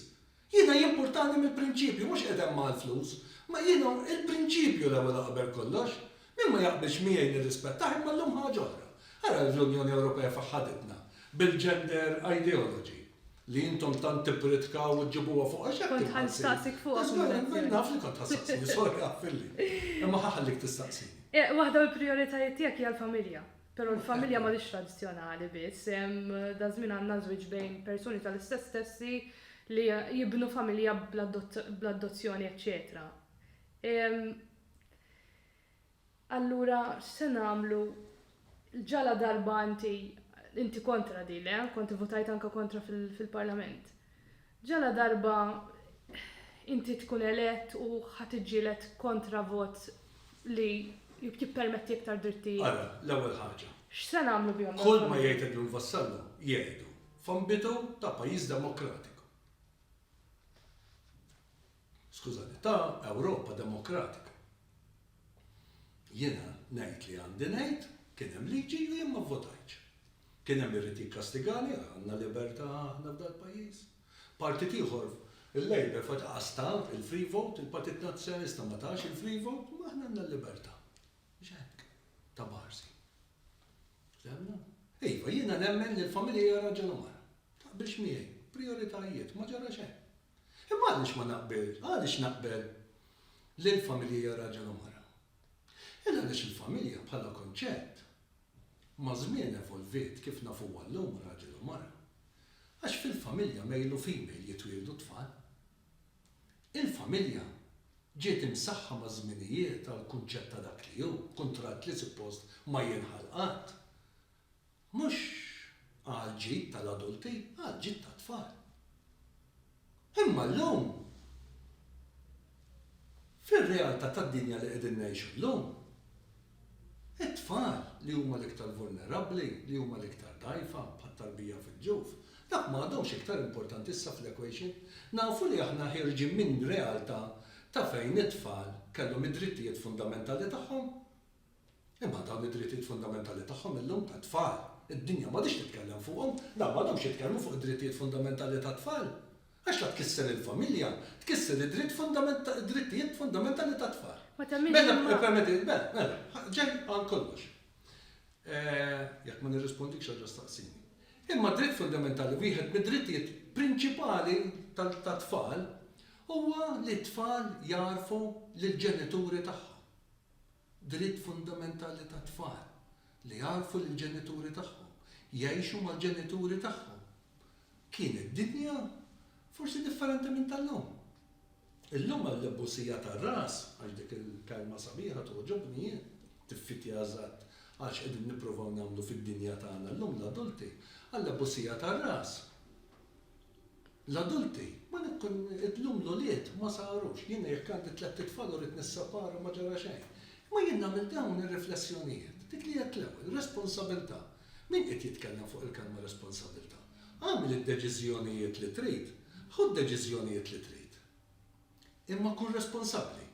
Jiena jimpurtani mill-prinċipju mhux qed hemm għall-flus ma jiena il-prinċipju l-ewwel u qabel kollox. Min ma jaqbilx miegħi nirrispettah imma llum ħaġa oħra. Ara l-Unjoni Ewropea fejn ħaditna bil-gender ideology. li intom tant tippritkaw u ġibuha fuq għax Kont ħan staqsik fuq. Għax dan naf li kont ħassaqsini, sorry għafilli. Imma ħaħallik tistaqsini. Eh, waħda mill-prijoritajiet tiegħek hija l-familja. Però l-familja ma lix tradizzjonali biss, hemm dażmin għandna żwieġ bejn persuni tal-istess sessi li jibnu familja bl-addozzjoni eċċetera. Allura x'se nagħmlu? L-ġala darba inti, inti kontra din, le? Kont ivvutajt anke kontra fil-Parlament. Ġala darba inti tkun elett u ħa tiġġieled kontra vot li jippermetti iktar drittijiet? Ara, l-ewwel ħaġa. X'se nagħmlu bihom dawn il-familji? Kull ma jgħid Edwin Vassallo jgħidu f'ambitu ta' pajjiż demokratiku. Skużani, ta' Ewropa demokratika. Jiena ngħid li għandi ngħid, kien hemm liġi u jien ma vvotajtx. Kien hemm irid jikkastigani, għandna libertà aħna f'dal-pajjiż. Partit ieħor, il-Labour f'waqtha qas ta il-free vote, il-Partit Nazzjonalista ma tax il-free vote, imma aħna għandna l-libertà. Mhux hekk, ta' Barsi. Fehmna? Iva, jiena nemmen li l-familja hija raġel u mara. Taqbilx miegħi? Prijoritajiet, ma ġara xejn. Imma għaliex ma naqbilx, għaliex naqbel li l-familja hija raġel u mara? Il għaliex il-familja bħala kunċett maż-żmien evolviet kif nafuha llum raġel u mara. Għax fil-familja male u female jitwieldu t-tfal. Il-familja ġiet imsaħħa maż-żminijiet għall-kunċett ta' dak li hu, kuntratt li suppost ma jinħall qatt. Mhux għall-ġid tal-adulti, għall-ġid tat-tfal. Imma llum, fir-realtà tad-dinja li qegħdin ngħixu llum, it-tfal li huma l-iktar vulnerabbli, li huma l-iktar dgħajfa, bħat-tarbija fil-ġuf, dawk ma għadhomx iktar importanti issa fl-equation. Nafu li aħna ħierġin minn realtà ta' fejn it-tfal kellhom id-drittijiet fundamentali tagħhom. Imma dawn id-drittijiet fundamentali tagħhom illum tat-tfal, id-dinja m'għadhiex titkellem fuqhom, dawn m'għadhomx jitkellmu fuq id-drittijiet fundamentali tat-tfal. Għax la tkisser il-familja, tkisser id-dritt fundamental, id-drittijiet fundamentali tat-tfal. Ma temminx Mela, imma. ippermettili, mela, mela, ħa, ġej għal kollox. Eh, jekk ma nirrispondikx erġa' staqsini. Imma d-dritt fundamentali, wieħed mid-drittijiet prinċipali tal, tat-tfal, huwa li t-tfal jagħrfu lill-ġenituri tagħhom. Dritt fundamentali tat-tfal li jagħrfu lill-ġenituri tagħhom, jgħixu mal-ġenituri tagħhom. Kienet dinja forsi differenti minn tal-lum. Illum għall-ibbusija tar-ras, għax dik il-kelma sabiħa togħġobni jien, tiffitja eżatt għal x'qegħdin nippruvaw nagħmlu fid-dinja tagħna llum l-adulti, għall-abbusija tar-ras, L-adulti, ma nikkun, illum l-ulied ma sarux. Jiena jekk għandi tlett itfal u rrid nisseparhom ma ġara xejn. Imma jien nagħmel dawn ir-riflessjonijiet. Dik li għedt l-ewwel, responsabilità. Min qiegħed jitkellem fuq il-kelma responsabilità? Agħmel id-deċiżjonijiet li trid, ħu d-deċiżjonijiet li trid. Imma kun responsabbli.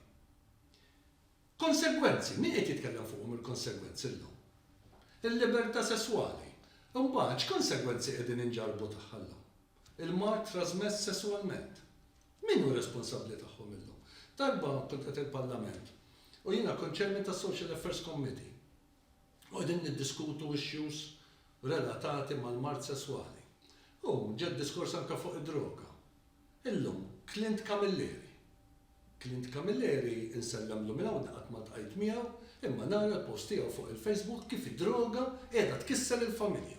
Konsegwenzi, min qed jitkellem fuqhom il-konsegwenzi llum? Il-libertà sesswali. Imbagħad x'konsegwenzi qegħdin inġarrbu tagħha llum? Il-mard trażmess sesswalment. Min hu responsabbli tagħhom illum? Darba kont qed il-Parlament u jiena kont Chairman tas-Social Affairs Committee. qegħdin niddiskutu issues relatati mal-mard sesswali. U ġa diskors anke fuq id-droga. Illum, Clint Camilleri. Clint Camilleri, insellemlu minn hawn li qatt ma ltqajt miegħu, imma nara l-post tiegħu fuq il-Facebook kif id-droga qiegħda tkisser il-familja.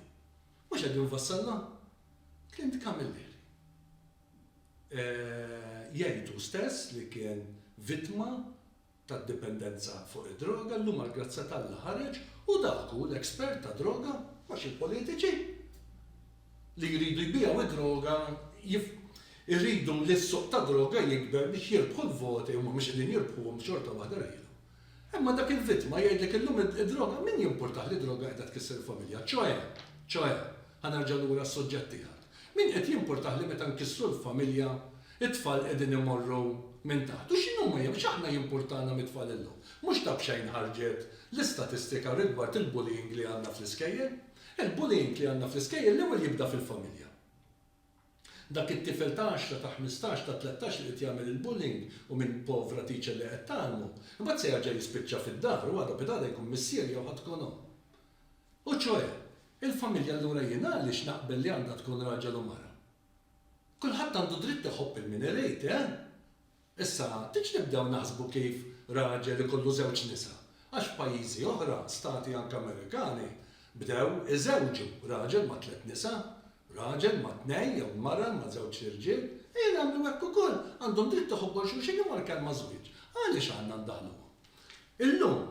Mhux qegħdin nfassalha? Clint Camilleri. Jgħid hu stess li kien vittma tad-dipendenza fuq id-droga, llum għall-grazzja t'Alla ħareġ u dak hu l-expert ta' droga, mhux il-politiċi li jridu jbiegħu d-droga jif iridu li s-suq tad-droga jikber biex jirbħu l-voti, huma mhux qegħdin jirbħuhom xorta waħda rħilhom. Imma dak il-vittma jgħidlek illum id-droga min jimpurtah li d-droga qiegħda tkisser il-familja, ċoè, ċoè, ħa nerġa' lura għas-suġġett tiegħek. Min qed jimpurtah li meta nkissru l-familja, it-tfal qegħdin imorru minn taħt? U x'inhuma jew x'aħna jimpurtana mit-tfal illum? Mhux ta' b'xejn ħarġet l-istatistika rigward il-bullying li għandna fl-iskejjel. Il-bullying li għandna fl-iskejjel l-ewwel jibda fil-familja. Dak it-tifel ta' għaxra, ta' ħmistax, ta' tlettax li qed jagħmel il-bullying u minn povra teacher li qed tgħallmu, imbagħad se jerġa' jispiċċa fid-dar u għada bid-għada jkun missier jew ħadd tkun omm. U ċoe, il-familja allura jien għaliex naqbel li għandha tkun raġel u mara? Kulħadd għandu dritt iħobb il-min irid, eh? Issa, tgħidx nibdew naħsbu kif raġel ikollu żewġ nisa, għax f'pajjiżi oħra, stati anke Amerikani, bdew iżewġu raġel ma' tliet nisa, raġel ma' tnejn jew mara ma' żewġ irġiel, ejja nagħmlu hekk ukoll, għandhom dritt iħobbu 'l xulxin imma l-kelma żwieġ, għaliex għandna ndaħħluha? Illum,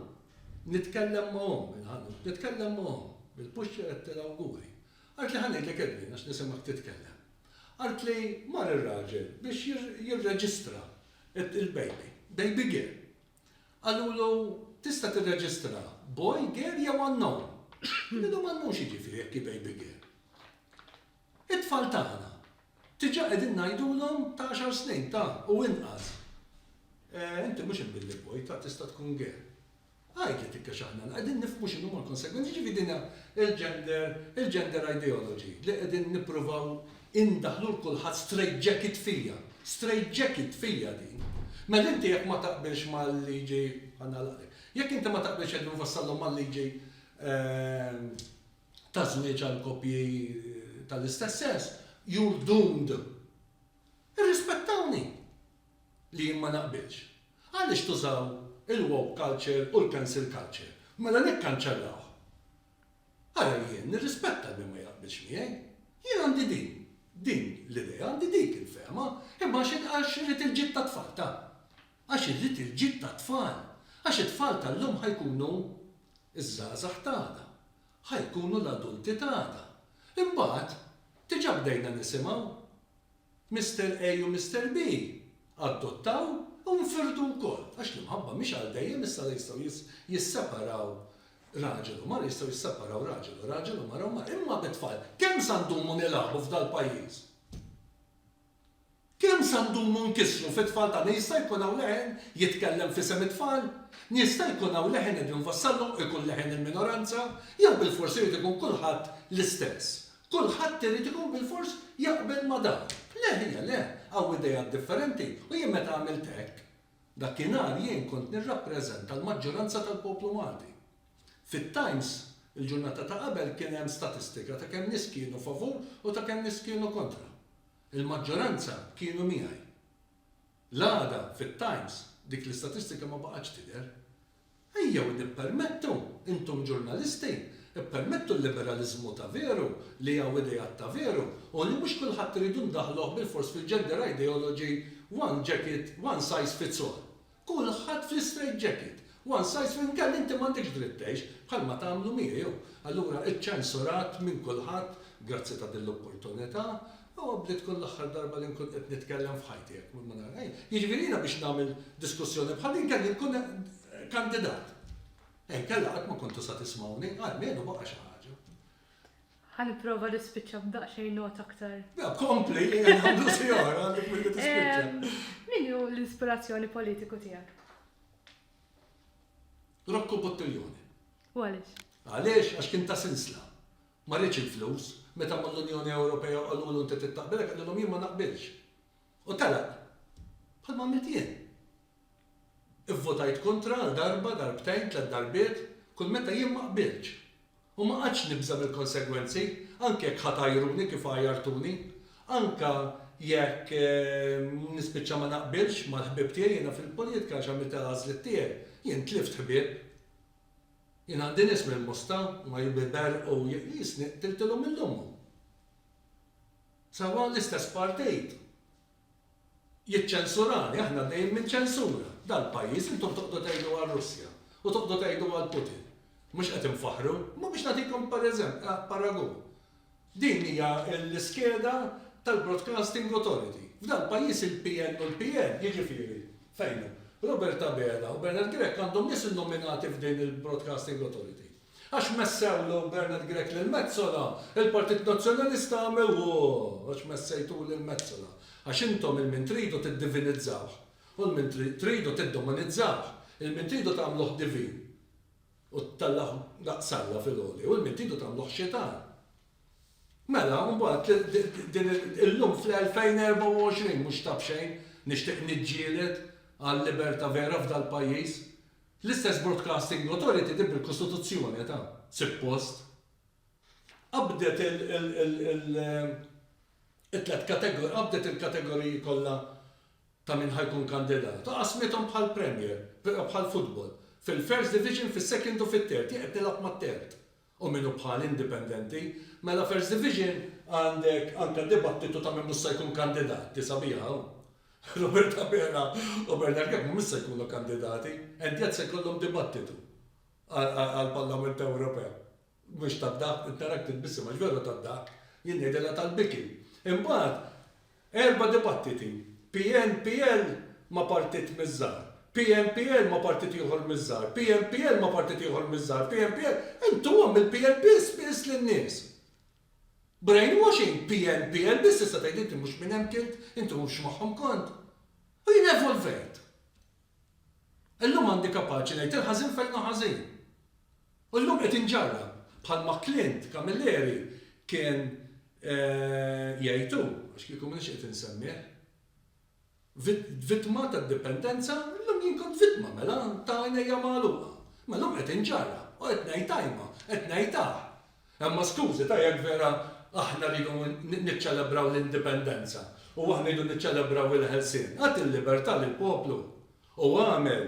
nitkellem ma' omm il-ħanut, nitkellem ma' omm il-puxċer qed tilawguri. Qaltli ħa ngħidlek Edwin għax nisimgħek titkellem. Qaltli mar ir-raġel biex jirreġistra il-baby, baby girl. Qalulu tista' tirreġistra boy, girl jew unknown. Qal lilhom unknown x'jiġifieri jekk hi baby girl? It-tfal tagħna, diġà qegħdin ngħidulhom ta' għaxar snin, ta' u inqas, Eh, inti mhux il-Billy Boy, ta' tista' tkun gay. Għid li tikkex aħna qegħdin nifhmu x'inhuma l-konsegwenzi, jiġifieri din hija l-gender, il-gender ideology li qegħdin nippruvaw indaħħlu 'l kulħadd straight jacket fija. Straight jacket fija din. Mela inti jekk ma taqbilx mal-liġi, ħa nagħlaqlek, jekk inti ma taqbilx qegħdin nfassallhom mal-liġi, eh, ta' żwieġ għal koppji tal-istess sess, you're doomed. Irrispettawni li jien ma naqbilx. Għaliex tużaw il-woke culture u l-cancel culture? Mela nikkanċellawh. Ara jien nirrispetta min ma jaqbilx miegħi. Jien għandi din, din l-idea, għandi dik il-fehma, imma għax irid il-ġid tat-tfal, ta. Għax irrid il-ġid tat-tfal. Għax it-tfal tal-lum ħa jkunu ż-żgħażagħ t'għada. Ħa jkunu l-adulti t'għada. Imbagħad, diġà bdejna nisimgħu. Mister A u Mister B adottaw u nfirdu wkoll. Għax l-imħabba mhix għal dejjem, issa la jistgħu jisseparaw raġel u mara, jistgħu jisseparaw raġel u raġel u mara u mara. Imma bit-tfal, kemm sa ndumu nilagħbu f'dal-pajjiż? Kemm sa ndumu nkissru fit-tfal tagħna? Jista' jkun hawn leħen jitkellem f'isem it-tfal? Jista' jkun hawn leħen qegħdin nfassalhom ikun leħen il-minoranza? Jew bilfors irid ikun kulħadd l-istess? Kulħadd irid ikun bilfors jaqbel ma' dan? Le ħija le, hawn ideat differenti u jien meta għamilt hekk, dakinhar jien kont nirrappreżenta l-maġġoranza tal-poplu Malti. Fit-Times il-ġurnata ta' qabel kien hemm statistika ta' kemm nies kienu favur u ta' kemm nies kienu kontra. Il-maġġoranza kienu miegħi. L-għada fit-Times dik l-istatistika ma baqgħetx tidher. Ejjew nippermettu, intom ġurnalisti, ippermettu l-liberaliżmu ta' veru, li hawn ideat ta' veru u li mhux kulħadd irridu ndaħħluh bilfors fil-gender ideology one jacket, one size fits all. Kulħadd fl-istrejt ġekit, one size fits inkella inti m'għandekx dritt tgħix, bħalma tagħmlu miegħi hu. Allura iċċensurat minn kulħadd, grazzi ta' din l-opportunità, huwa bli tkun l-aħħar darba li nkun qed nitkellem f'ħajti jekk ma nagħmel xejn. Jiġifieri jiena biex nagħmel diskussjoni bħal din kelli nkun kandidat. Inkella qatt ma kontu sa tismgħuni, almenu baqa' xi ħaġa. Ħa nipprova nispiċċa b'daqsxejn nota aktar. Le, kompli, ejja nagħmlu xi oħra għandek milli tispiċċa. Min hu l-ispirazzjoni politiku tiegħek? Rocco Bottiglione. U għaliex? Għaliex għax kien ta' sinsla. Ma rridx il-flus, meta mal-Unjoni Ewropea qalulu inti trid taqbilek qalilhom jien ma naqbilx. U telaq, bħalma għamilt jien. Ivvotajt kontra għal darba, darbtejn, tliet darbiet, kull meta jien ma qbiltx. U ma qgħadtx nibża' mill-konsegwenzi, anke jekk ħa tgħajruni kif għajjartuni. Anke jekk nispiċċa ma naqbilx mal-ħbieb tiegħi, jiena fil-politika għax għamilt il-għażliet tiegħi, jien tlift ħbieb. Jien għandi nies mill-Mosta, huma jberbqu u jqisni, qtiltilhom lil ommu. Sewwa l-istess partit jiċċensurani, aħna għaddejjin minn ċensura. Dal-pajjiż intom toqgħodu tgħidu għar-Russja u toqgħodu tgħidu għal Putin. Mhux qed infaħħru? Imma biex nagħtikom paragun, din hija l-iskeda tal-Broadcasting Authority. F'dal-pajjiż il-PN u l-PN, jiġifieri, fejn hu, Robert Abela u Bernard Grech għandhom nies innominati f'din il-Broadcasting Authority. Għax messewlu Bernard Grech lil Metsola, il-Partit Nazzjonalista għamel Ooh! Għax messejtuh lil Metsola. Għax intom il-min tridu tiddivinizzawh, u l-min tridu tiddomanizzawh, il-min tridu tagħmluh divin u tellgħuh daqs Alla fil-għoli, u l-min tridu tagħmluh xitan. Mela, mbagħad din illum fl-2024 mhux ta' b'xejn nixtieq niġġieled għal liberta' vera f'dal-pajjiż, L-istess Broadcasting Authority din bil-Kostituzzjoni ta'. Suppost. Qabdet it-tliet kategoriji, qabdet il-kategoriji kollha ta' min ħa jkun kandidat u qasmithom bħal Premier, bħal futbol, fil-First Division, fis-Second u fit-Third, jien qed nilgħab mat-Third. u min hu bħal indipendenti, mela first division għandek anka dibattitu ta' min mhux se jkun kandidat, ti sabiha hawn. Robert Abela u Bernard Grech mhumiex se jkunu kandidati, Endiat se jkollhom dibattitu għall-Parlament Ewropew. Mhux tad-dahk, qed narak titbissem għax veru tad-dahk, jien ngħidilha tal-biki. Imbagħad Erba' dibattiti, PNPL ma' partit miż-żgħar, PNPL ma' partit ieħor miż-żgħar, PNPL ma' partit ieħor miż-żgħar, PNPL, intom għam il-PNPL spiss lin-nies. Brainwashing, PNPL biss tista' tgħid inti mhux minn hemmk int, inti mhux magħhom kont. U jien evolvejt. Illum għandi kapaċi ngħid il-ħażin fejn hu ħażin. U llum qed inġarrab, bħalma Clint Camilleri kien jgħid hu, għax kieku m'iniex qed insemmih, vittma tad-dipendenza, illum jien kont vittma mela ta' għajnejja magħluqa. Imma llum qed inġarrab u qed ngħid ajma, qed ngħid aħ. Imma skużi ta' jekk vera aħna rridu niċċelebraw l-Indipendenza u aħna rridu niċċelebraw il-ħelsien, agħti l-libertà lill-poplu u agħmel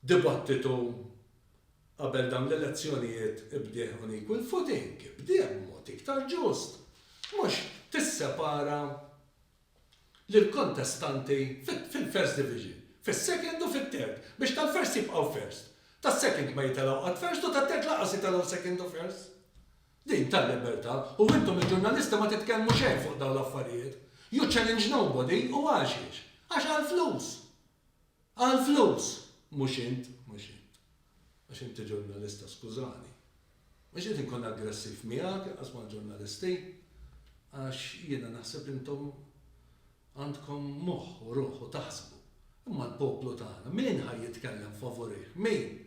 dibattitu qabel dawn l-elezzjonijiet ibdieh on equal footing, ibdieh b'mod iktar ġust, mhux tissepara lill-kontestanti fil-First Division, fis-Second u fit-Third, biex tal-First jibqgħu First, tas-Second ma jitelgħu qatt First u tat-Third lanqas jitelgħu Second u First. Din tal-libertà u intom il-ġurnalisti ma titkellmu xejn fuq dawn l-affarijiet. You challenge nobody u għaxiex? Għax għall-flus! Għall-flus! Mhux int, mhux int. Għax inti ġurnalista, skużani. Mhux qed inkun aggressiv miegħek, inqas mal-ġurnalisti. Għax jiena naħseb intom għandkom moħħ u ruħ u taħsbu. Imma l-poplu tagħna, min ħa jitkellem favurih? Min?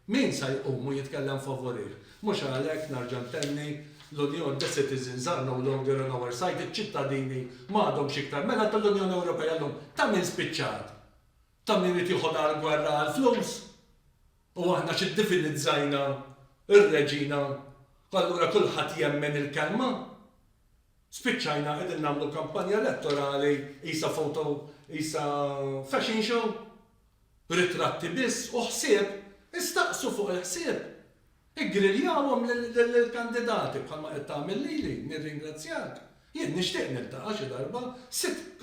Min sa jqum u jitkellem favurih? Mhux għalhekk, narġa' ntenni, l-Unjon, the citizens are no longer on our side, iċ-ċittadini ma għadhomx iktar mela tal-Unjoni Ewropea llum. Ta' min spiċċat? Ta' min irid jieħodha għall-gwerra għall-flus? U aħna xi ddivinizzajna r-reġina u allura kulħadd jemmen il-kelma? Spiċċajna qegħdin nagħmlu kampanja elettorali qisha photo qisha fashion show? Ritratti biss u ħsieb, istaqsu fuq il-ħsieb! Iggriljawhom lill-kandidati bħalma qed tagħmel lili, nirringrazzjak. Jien nixtieq niltaqa' xi darba sitt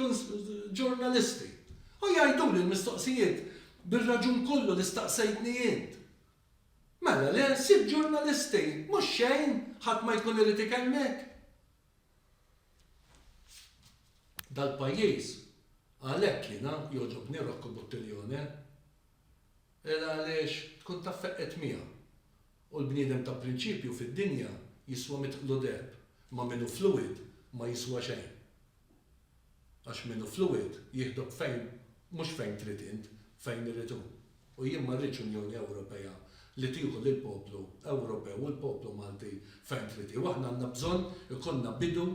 ġurnalisti u jgħiduli l-mistoqsijiet bir-raġun kollu li staqsejtni int. Mela le, sitt ġurnalisti, mhux xejn, ħadd ma jkun irid ikellmek. Dal-pajjiż, għalhekk jiena jogħġobni Rocco Buttiglione, il għaliex tkun taf feqqgħet miegħu. U l-bniedem ta' prinċipju fid-dinja jiswa mitt qlu deheb, ma' min hu fluwid ma jiswa xejn. Għax min hu fluwid jieħdok fejn mhux fejn trid int, fejn irid hu. U jien ma rridx Unjoni Ewropea li tieħu lill-poplu Ewropew u l-poplu Malti fejn trid hi. U aħna għandna bżonn ikollna bidu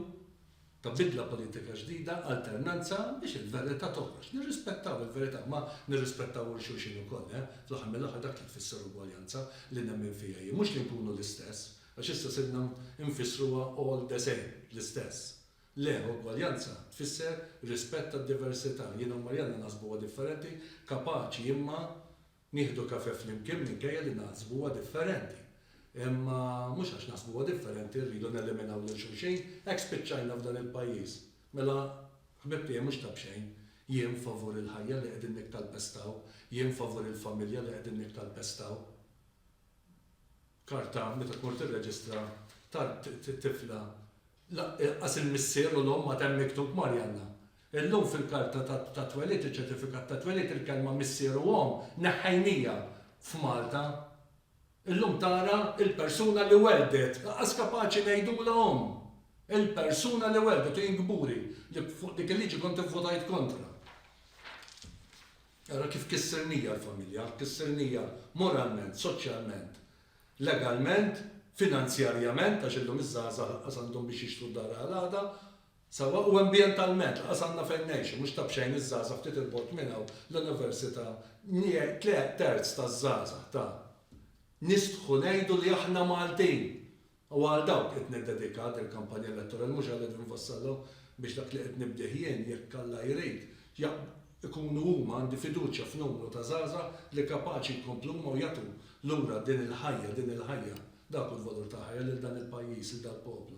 ta' bidla politika ġdida, alternanza, biex il-verità toħroġ. Nirrispettaw il-verità, ma nirrispettaw il xulxin ukoll, eh. Fl-aħħar mill-aħħar dak li tfisser ugwaljanza li nemmen fiha jien. Mhux li nkunu l-istess, għax issa sirna nfissruha all the same, l-istess. Le, ugwaljanza tfisser rispett għad-diversità. Jiena u Marianna naħsbuha differenti, kapaċi imma nieħdu kafè flimkien minkejja li naħsbuha differenti. Imma mhux għax naħsbuha differenti rridu neliminaw lil xulxin, hekk spiċċajna f'dan il-pajjiż. Mela ħbieb tiegħi mhux ta' b'xejn, jien favur il-ħajja li qegħdin nikkalpestaw, jien favur il-familja li qegħdin nikkalpestaw. karta meta tmur tirreġistra tat-tifla lanqas il-missier u l-omm għad hemm miktub Marjanna. Illum fil-karta tat-twelid u ċ-ċertifikat tat-twelid il-kelma missier u omm neħħejnija f'Malta. Illum tara il-persuna li welldet lanqas kapaċi ngħidulha omm. Il-persuna li welldet u jien kburi li fuq dik il-liġi kont ivvutajt kontra. Ara kif kissirnija l-familja, kissirnija moralment, soċjalment, legalment, finanzjarjament, għax illum iż-żgħażagħ lanqas għandhom biex jixtru d-dar għal għada, sewwa, u ambjentalment, lanqas għandna fejn ngħixu, mhux ta' b'xejn iż-żgħażagħ ftit 'il bogħod minn hawn l-università, tliet terz taż-żgħażagħ ta' nistħu ngħidu li aħna Maltin! Huwa għal dawk qed niddedika dil-kampanja elettorali, mhux għal Edwin Vassallo biex dak li qed nibdih jien, jekk Alla jrid, jaqblu, ikunu huma, għandi fiduċja f'numru ta' żgħażagħ li kapaċi jkomplu huma u jagħtu lura din il-ħajja, din il-ħajja, dak hu l-valur tal-ħajja lil dan il-pajjiż, lil dal-poplu.